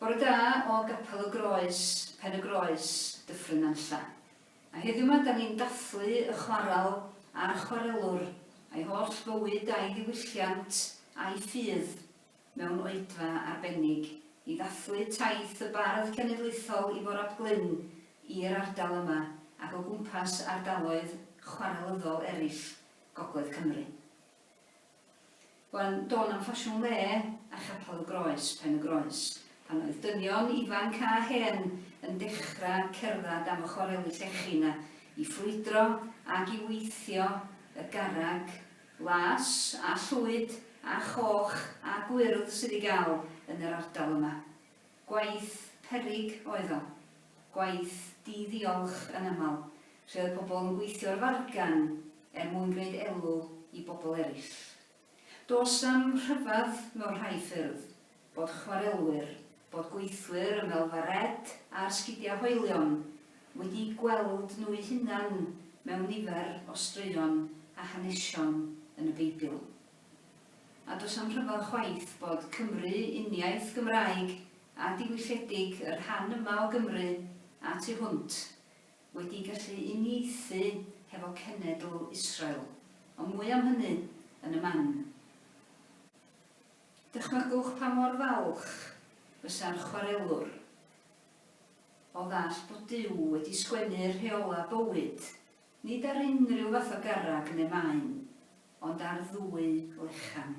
Bore da o Gapel y Groes, Pen-y-groes, Dyffryn Nantlle. A heddiw 'ma 'da ni'n dathlu y chwaral a'r chwarelwr, a'i holl fywyd a'i ddiwylliant a'i ffydd. mewn oedfa arbennig, i ddathlu taith y bardd cenedlaethol Ifor ap Glyn i'r ardal yma ac o gwmpas ardaloedd chwarelyddol eraill gogledd Cymru. Bu'n dôn am ffasiwn le a chapel y Groes, Pen-y-groes, pan oedd dynion ifanc a hen yn dechrau cerdded am y chwareli llechi 'na i ffrwydro ac i weithio y garreg las, a llwyd, a choch, a gwyrdd sydd i gael yn yr ardal yma. Gwaith peryg oedd o. Gwaith di-ddiolch yn aml, lle oedd pobl yn gweithio ar fargen er mwyn gwneud elw i bobl eraill. Does 'na'm rhyfedd mewn rhai ffyrdd, bod chwarelwyr, bod gweithwyr Ymelfa Red a'r Sgidiau Hoelion wedi'u gweld nhw'u hunan mewn nifer o straeon a hanesion yn y Beibl. A does a'm rhyfedd chwaith bod Cymru uniaith Gymraeg a diwylledig y rhan yma o Gymru a tu hwnt wedi gallu uniaethu hefo cenedl Israel, ond mwy am hynny yn y man. Dychmygwch pa mor falch fysa'r chwarelwr o ddall bod Duw wedi sgwennu rheolau bywyd, nid ar unrhyw fath o garreg neu maen, ond ar ddwy lechan.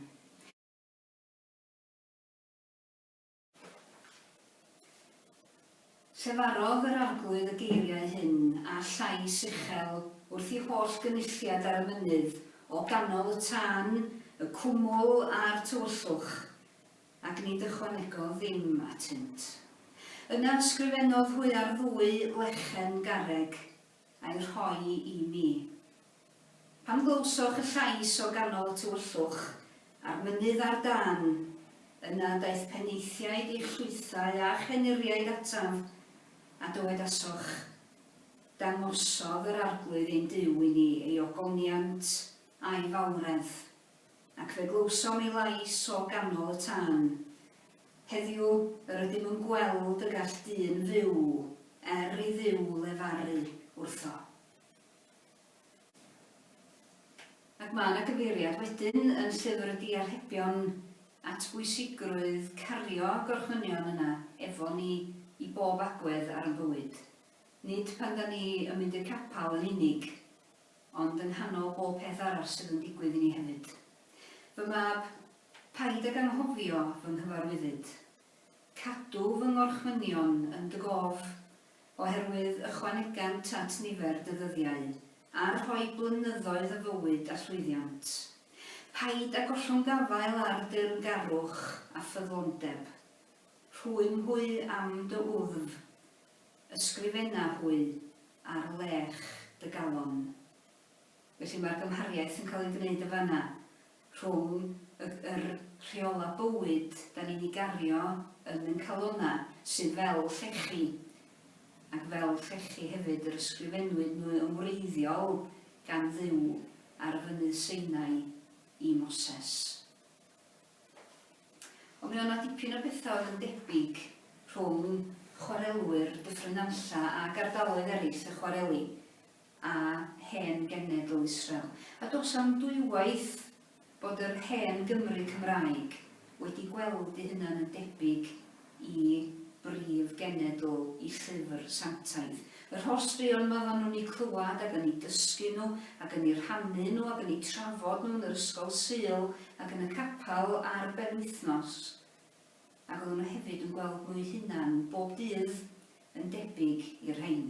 Llefarodd yr Arglwydd y geiriau hyn â llais uchel wrth i holl gynulliad ar y mynydd, o ganol y tân, y cwmwl a'r tywyllwch, ac nid ychwanegodd ddim atynt. Yna ysgrifennodd hwy ar ddwy lechen garreg, a'i rhoi i mi. Pan glywsoch y llais o ganol y tywyllwch a'r mynydd ar dân, yna daeth penaethiaid i'ch llwythau a'ch henuriaid ataf, a dywedasoch, Dangosodd yr Arglwydd ein Duw i ni ei ogoniant a'i fawredd, ac fe glywsom ei lais o ganol y tân, Heddiw, yr ydym yn gweld y gall dyn fyw er i Dduw lefaru wrtho. Ac mae yna gyfeiriad wedyn yn Llyfr y Diarhebion at bwysigrwydd cario gorchmynion yna efo ni i bob agwedd ar yn bywyd. Nid pan 'da ni yn mynd i'r capel yn unig, ond yng nghanol bob peth arall sydd yn digwydd i ni hefyd. Fy mab, Paid ag anghofio fy nghyfarwyddyd. Cadw fy ngorchmynion yn dy gof, oherwydd ychwanegant at nifer dy ddyddiau, a rhoi blynyddoedd o fywyd a llwyddiant. Paid â gollwng gafael ar deyrngarwch a ffyddlondeb. Rhwym hwy am dy wddf. Ysgrifena hwy ar lech dy galon. Felly mae'r gymhariaeth yn cael ei wneud yn fan'na rhwng y yr rheolau bywyd 'dan ni'n eu gario yn ein calonnau, sydd fel llechi, ac fel llechi hefyd yr ysgrifennwyd nhw yn wreiddiol gan Dduw ar Fynydd Sinai i Moses. Ond mi oedd 'na dipyn o bethau oedd yn debyg rhwng chwarelwyr Dyffryn Nantlle ag ardaloedd eraill y chwareli. a hen genedl Israel, a does am dwywaith bod yr hen Gymry Cymraeg wedi gweld eu hunan yn debyg i brif genedl y Llyfr Sanctaidd. Yr holl straeon yma oeddan nhw'n eu clywed ac yn eu dysgu nhw ac yn eu rhannu nhw ac yn eu trafod nhw yn yr ysgol Sul ac yn y capel ar benwythnos. ac oedden nhw hefyd yn gweld nhw'u hunan bob dydd yn debyg i'r rhein.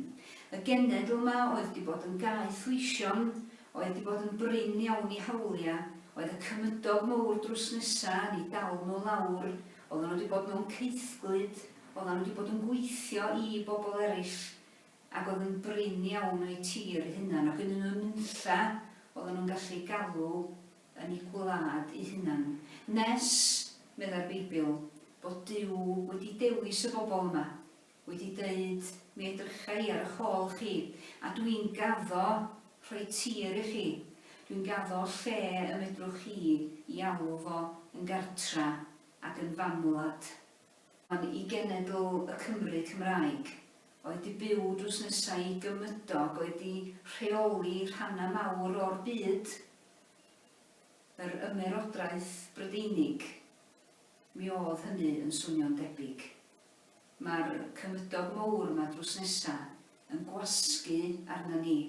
Y genedl 'ma oedd 'di bod yn gaeth weision, oedd 'di bod yn brin iawn i hawlia', oedd y cymydog mowr drws nesa yn 'u dal nhw lawr, oedden nhw 'di bod mewn caethglud, oedden nhw 'di bod yn gweithio i bobl erill, ac oedd yn brin iawn o'u tir eu hunan, ac yn un o nunlla oedden nhw'n gallu galw yn eu gwlad eu hunain, nes, meddai'r Beibl, bod Duw wedi dewis y bobl yma, wedi deud, Mi edrycha i ar ych ôl chi, a dw i'n gaddo rhoi tir i chi, dw i'n gaddo lle y medrwch chi i alw fo yn gartra ac yn famwlad. Ond i genedl y Cymry Cymraeg, oedd 'di byw drws nesa i gymydog, oedd 'di rheoli rhannau mawr o'r byd, yr Ymerodraeth Brydeinig, mi o'dd hynny yn swnio'n debyg. Ma'r cymydog mowr 'ma drws nesa yn gwasgu arna ni.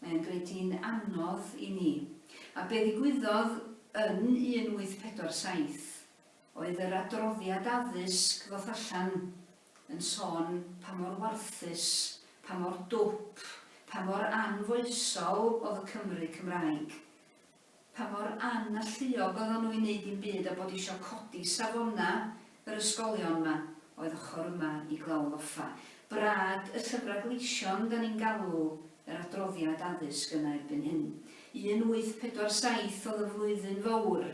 Mae o'n gneud hi'n anodd i ni. A be' ddigwyddodd yn 1847 oedd yr adroddiad addysg ddoth allan yn sôn pa mor warthus, pa mor dwp, pa mor anfoesol oedd y Cymry Cymraeg. Pa mor an-alluog oeddan nhw i wneud dim byd a bod isio codi safonau yr ysgolion 'ma oedd ochr yma i Glawdd Offa. Brad y Llyfrau Gleision 'dan ni'n galw yr adroddiad addysg yna erbyn hyn. 1847 oedd y flwyddyn fowr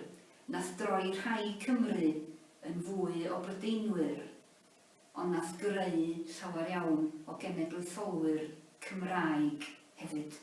Nath droi rhai Cymru yn fwy o Brydeinwyr, ond nath greu llawer iawn o genedlaetholwyr Cymraeg hefyd.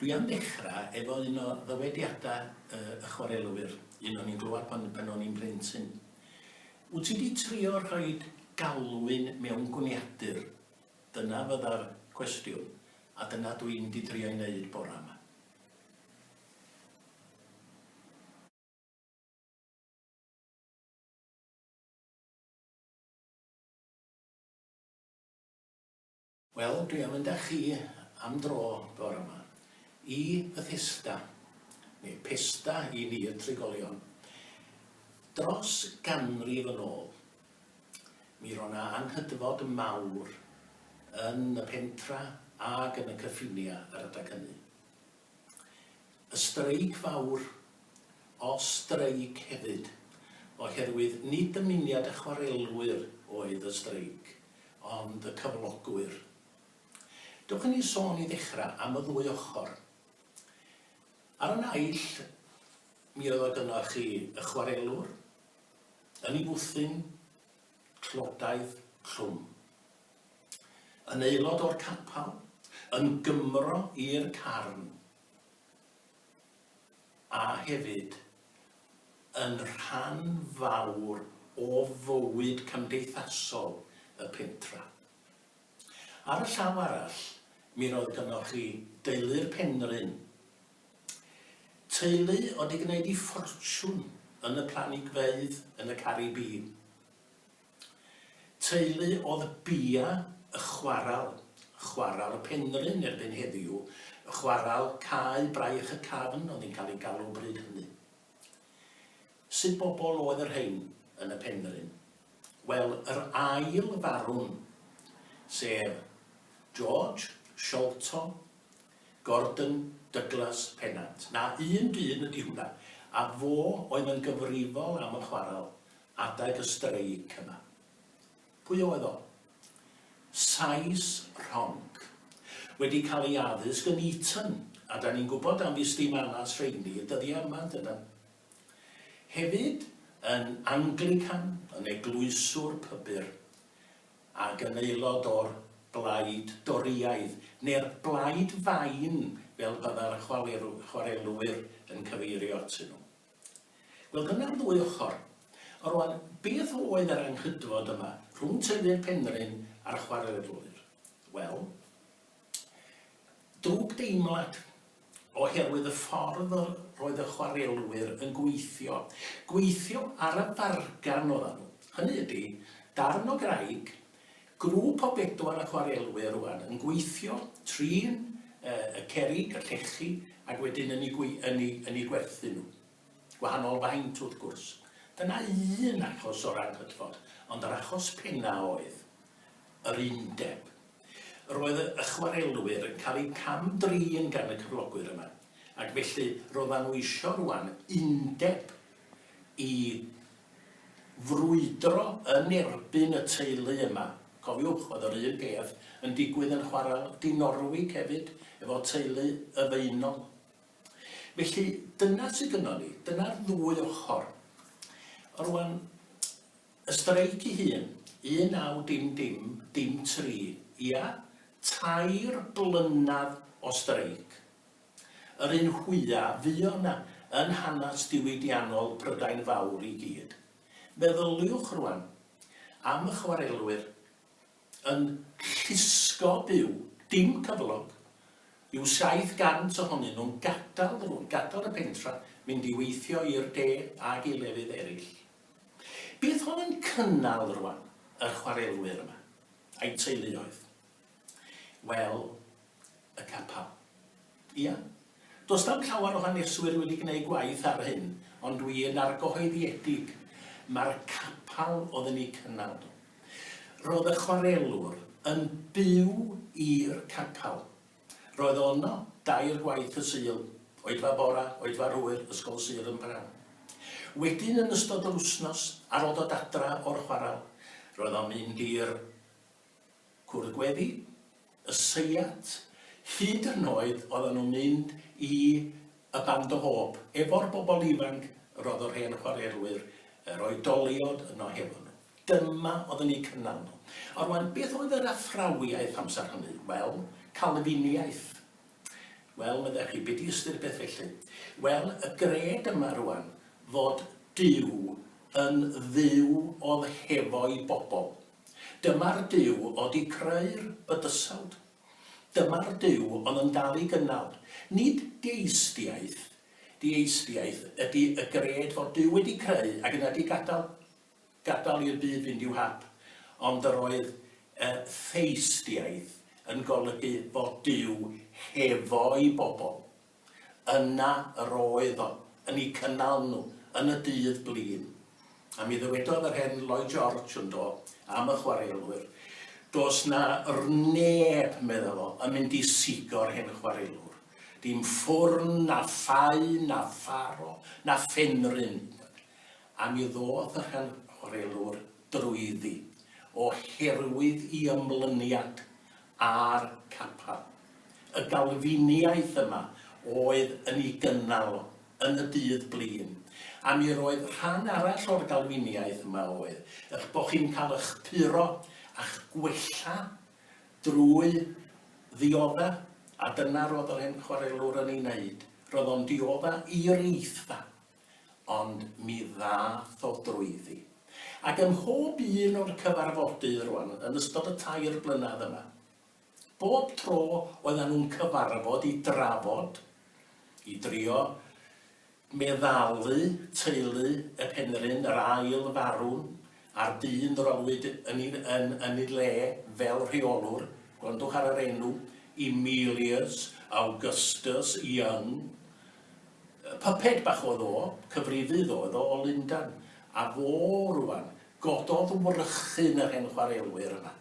Dwi am ddechra efo un o ddywediada y y chwarelwyr, un o'n i'n glywad pan pan o'n i'n blentyn. Wt ti 'di trio rhoid galwyn mewn gwniadur? Dyna fydda'r cwestiwn, a dyna dw i'n 'di trio'i neud bora 'ma. Wel, dwi am mynd â chi am dro bore 'ma i Bethesda, neu Pesda i ni y trigolion. Dros ganrif yn ôl, mi ro' 'na anghydfod mawr yn y pentra ag yn y cyffinia' yr adag hynny. Y streic fawr, o streic hefyd, oherwydd nid dymuniad y chwarelwyr oedd y streic, ond y cyflogwyr. Dewch i ni sôn i ddechrau am y ddwy ochr. Ar y naill, mi oedd o gynnoch chi y chwarelwr, yn ei fwthyn, Clodaidd Clwm. Yn aelod o'r capal, yn Gymro i'r Carn, a hefyd yn rhan fawr o fywyd cymdeithasol y pentra. Ar y llaw arall, mi roedd gynnoch chi deulu'r Penrhyn, Teulu oedd di gwneud i ffortiwn yn y planigfeydd yn y Caribî. Teulu oedd bia y chwaral, chwaral y Penrhyn erbyn heddiw, chwaral Cae Braich y Cafn oedd hi'n cael ei galw bryd hynny. Sut bobl oedd y rhein yn y Penrhyn? Wel, yr ail farwn, sef George Sholto, Gordon Douglas Pennant, na un dyn ydi hwnna, a fo oedd yn gyfrifol am y chwarel adeg y streic yma. Pwy oedd o? Sais rhonc. Wedi cael ei addysg yn Eton, a da ni'n gwybod am ddisdim alas rheini y dyddiau yma, yndydan? Hefyd yn Anglican, yn eglwyswr pybyr. ac yn aelod o'r Blaid Dorïaidd, neu'r Blaid Fain fel bydda'r chwarelwyr yn cyfeirio atyn nhw. Wel, dyna'r ddwy ochr. Rwan, beth oedd yr anghydfod yma rhwng teulu'r Penrhyn a'r chwarelwyr? Wel, Drwg deimlad, oherwydd y ffordd yr oedd y chwarelwyr yn gweithio. Gweithio ar y fargan oeddan nhw. Hynny ydi, darn o graig, grŵp o bedwar o chwarelwyr rwan yn gweithio, trin y cerrig, y llechi, ac wedyn yn eu gwerthu nhw. Gwahanol faint, wrth gwrs. Dyna un achos o ran cydfod, ond yr achos penna oedd yr Undeb. Roedd y chwarelwyr yn cael eu cam-drin gan y cyflogwyr yma, ac felly roeddan nhw eisiau rŵan Undeb i frwydro yn erbyn y teulu yma. Cofiwch, oedd yr un peth yn digwydd yn chwarel Dinorwig hefyd, efo teulu Y Faenol. Felly, dyna sy gynnon ni. Dyna'r ddwy ochor. Rŵan, y streic ei hun, 19 dim dim dim tri, ia? Tair blynadd o streic. Yr un fwya' fuo' 'na yn hanas diwydiannol Prydain Fawr i gyd. Meddyliwch rŵan am y chwarelwyr, yn llusgo byw, dim cyflog, yw 700 ohonyn nhw'n gadael y fwrdd, gadael y pentra, mynd i weithio i'r de ag i lefydd eraill. Bydd hon yn cynnal rwan yr chwarelwyr yma, a'u teuluoedd, fel y capel. Ia. Does na'm llawer o haneswyr wedi gneud gwaith ar hyn, ond dwi yn argyhoeddiedig, mae'r capal oedd yn eu cynnal nhw. Roedd y chwarelwr yn byw i'r capal. Roedd o yno dair gwaith y Sul, oedfa bora, oedfa'r hwyr, ysgol sydd yn bnawn. Wedyn yn ystod yr wsnos ar ol dod adra o'r chwaral, roedd o'n mynd i'r Cwrdd gweddi? Y seiat? Hyd yn oed oeddan nhw'n mynd i y Band o Hope efo'r bobl ifanc, yr oedd yr hen chwarerwyr, yr oedoliod yno hefo nhw. Dyma oedd yn eu cynnal nhw. A rwan, beth oedd yr athrawiaeth amser hynny? Wel, Calfiniaeth. Wel, meddech chi, be di ystyr beth felly? Wel, y gred yma rwan fod Duw yn Dduw oedd hefo'i bobl. Dyma'r Duw o 'di creu'r bydysawd. Dyma'r Duw on yn dal i gynnal. Nid deistiaeth, dieisdiaeth, ydi y gred fod Duw wedi creu ac yna 'di gadal, gadal i'r byd fynd i'w hap, ond yr oedd y theistiaeth yn golygu fod Duw hefo'i bobl. Yna yr oedd o, yn eu cynnal nhw, yn y dydd blin. A mi ddywedodd yr hen Lloyd George, yn do, am y chwarelwyr, Does 'na 'r neb, medda fo, yn mynd i sigo'r hen chwarelwr. Dim ffwrn, na ffau, na pharo, na phenrhyn. A mi ddoth yr hen chwarelwr drwyddi, o herwydd 'i ymlyniad, a'r capel. Y Galfiniaeth yma oedd yn ei gynnal o, yn y dydd blin. A mi roedd rhan arall o'r Galfiniaeth yma oedd, eich bod chi'n cael eich puro a'ch gwella drwy ddiodda', a dyna roedd yr hen chwarelwr yn ei wneud, roedd o'n diodda' i'r eithaf. ond mi ddath o drwyddi. Ac ym mhob un o'r cyfarfodydd rwan, yn ystod y tair blynedd yma, bob tro oeddan nhw'n cyfarfod i drafod, i drio meddalu teulu y Penrhyn, yr ail farwn, a'r dyn roddwyd yn ei, yn, yn ei le fel rheolwr, gwrandwch ar yr enw, Emilius Augustus Young, Puppet bach oedd o, cyfrifydd oedd o o Lundan, a fo rŵan, gododd wrychyn yr hen chwarelwyr yma.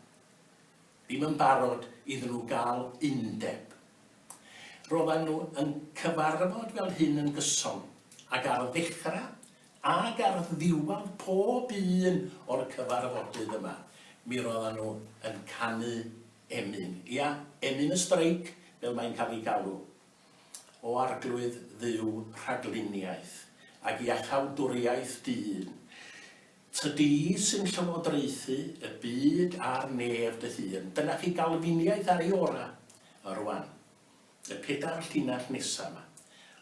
Ddim yn barod iddyn nhw gael undeb. Roeddan nhw yn cyfarfod fel hyn yn gyson, ac ar ddechrau ac ar ddiwedd pob un o'r cyfarfodydd yma, mi roeddan nhw yn canu emyn, ia, emyn y streic fel mae'n cael ei galw. o Arglwydd Dduw rhagluniaeth ac iachawdwriaeth dyn, Tydi sy'n llywodraethu y byd a'r nef dy hun, dyna chi Galfiniaeth ar ei ora'. A rwan, y pedair llinell nesa' 'ma,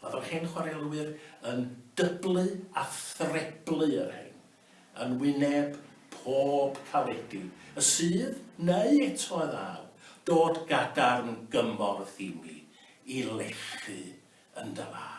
oedd yr hen chwarelwyr yn dyblu a threblu y rhein. yn wyneb pob caledi, y sydd, neu eto a ddaw, dod gadarn gymorth i mi, i lechu yn dy law.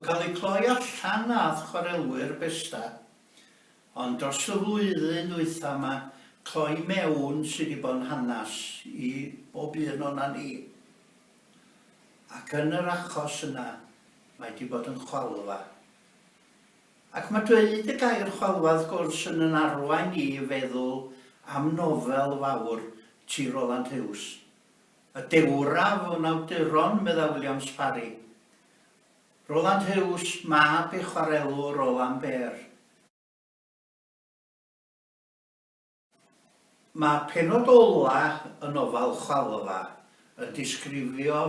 Cael eu cloi allan â'th chwarelwyr besta, ond dros y flwyddyn ddwytha yma, cloi mewn sy' 'di bo'n hanas i bob un o'na ni. Ac yn yr achos yna, mae 'di bod yn chwalfa. Ac ma' dweud y gair chwalfa wrth gwrs yn 'yn arwain ni i feddwl am nofel fawr T. Roland Hughes, Y Dewraf o'n awduron, medda Williams Parry. Roland Huws, mab i'r chwarelwr Roland Behr. Mae pennod ola' y nofel Chwalfa yn disgrifio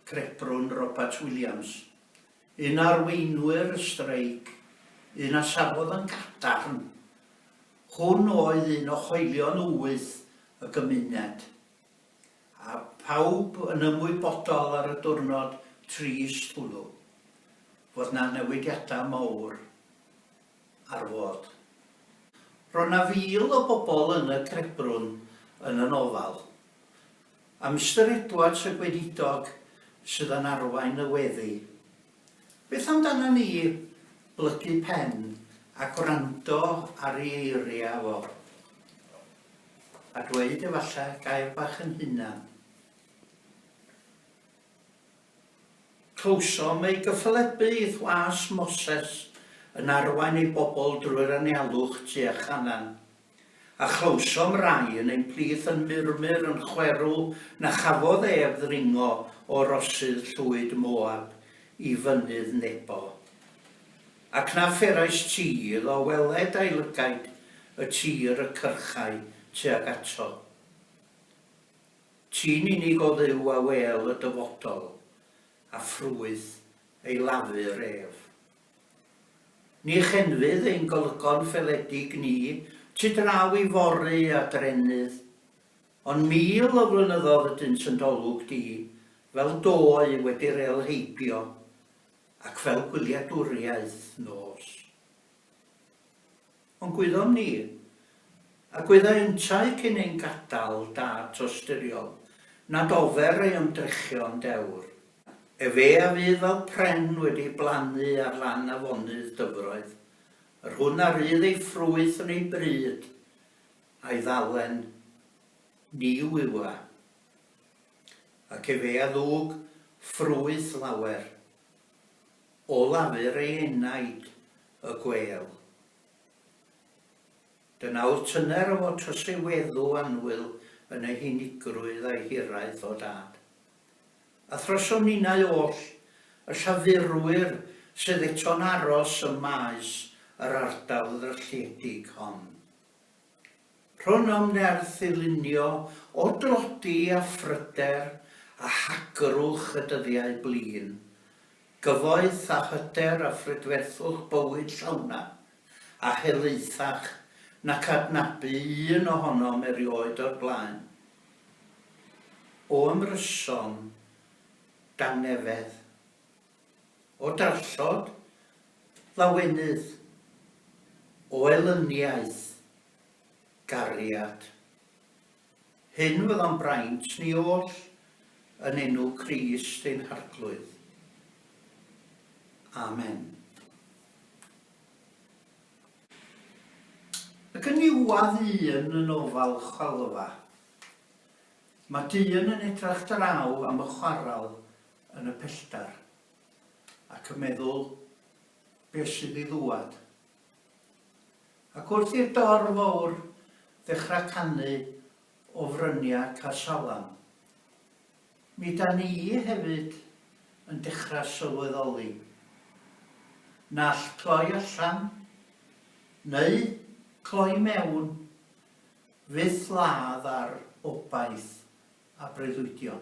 crebrwn Robat Williams, un o arweinwyr y streic, un a safodd yn gadarn. Hwn oedd un o hoelion wyth y gymuned. a phawb yn ymwybodol ar y diwrnod trist hwnnw fod 'na newidiadau mawr ar fod. Roedd 'na fil o bobl yn y crebbrwn yn y nofal, a Mister Edwards y gweinidog sydd yn arwain y weddi. Beth amdana ni? Blygu pen a gwrando ar ei eiriau o. A dweud efallai gair bach yn hunan. Clywsom ei gyffalebu i Thwas Moses yn arwain ei bobl drwy'r anialwch tu a chanan. A chlywsom rai yn ein plith yn murmur yn chwerw na chafodd ef ddringo o rosydd llwyd Moab i fynydd Nebo. Ac na pherais ti iddo weled a'i lygaid y tir y cyrchai tuag ato. Ti'n unig o Dduw a wêl y dyfodol, a ffrwyth ei lafur ef. Ni chenfydd ein golygon ffeledig ni tu draw i fory a drenydd, ond mil o flynyddodd ydynt yn d'olwg di, fel dôi wedi rêl heibio, ac fel gwyliadwriaeth nos. Ond gwyddom ni, a gwyddai yntau cyn ein gadael dat osturiol, nad ofer ei ymdrechion dewr. Efe a fydd fel pren wedi blannu ar lan afonydd dyfroedd, yr hwn a rydd ei ffrwyth yn ei bryd, a'i ddalen, ni wywa. Ac efe a ddug ffrwyth lawer. O lafur ei enaid y gwêl. Dy nawr tyner o fod trysy weddw annwyl yn ei hunigrwydd a'i hiraeth, O Dad. A throso ninnau oll, y llafurwyr sydd eto'n aros ym maes yr ardal ddrylliedig hon. Rhon am nerth i lunio o dlodi a phryder a hagrwch y dyddiau blin, gyfoeth a hyder a phrydferthwch bywyd llawna a helaethach nac adnabu un ohonom erioed o'r blaen. O ymryson, dangnefedd, o darllod, lawenydd, o elyniaeth, gariad. Hyn fyddo'n braint ni oll yn enw Crist ein Harglwydd. Amen. Ac yn niwad un yn ofal chwalfa. Mae dyn yn edrach draw am y chwaral yn y pellter ac yn meddwl beth sydd i ddŵad. Ac wrth i'r dorf fawr ddechrau canu o fryniau Casalam, mi da ni hefyd yn dechrau sylweddoli nall cloi allan neu cloi mewn fyth ladd ar obaith a breuddwydion.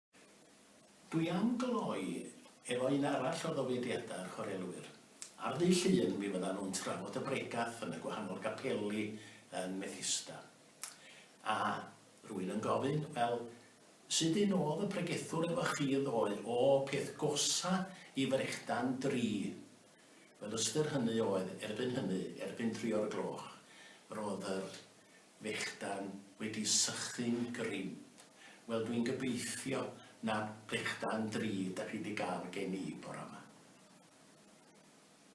Dwi am gloi efo un arall o ddofediadau'r chwarelwyr. Ar ddydd Llun mi fyddan nhw'n trafod y bregath yn y gwahanol gapeli yn Methista. A rwy'n yn gofyn, wel, sud un oedd y pregethwr efo chi ddoe? O, peth gosa i frechdan dri. Wel, ystyr hynny oedd, erbyn hynny, erbyn tri o'r gloch, roedd yr fechdan wedi sychu'n gryf. Wel dwi'n gobeithio na fechdan drud dach chi 'di ga'l gen i bora 'ma.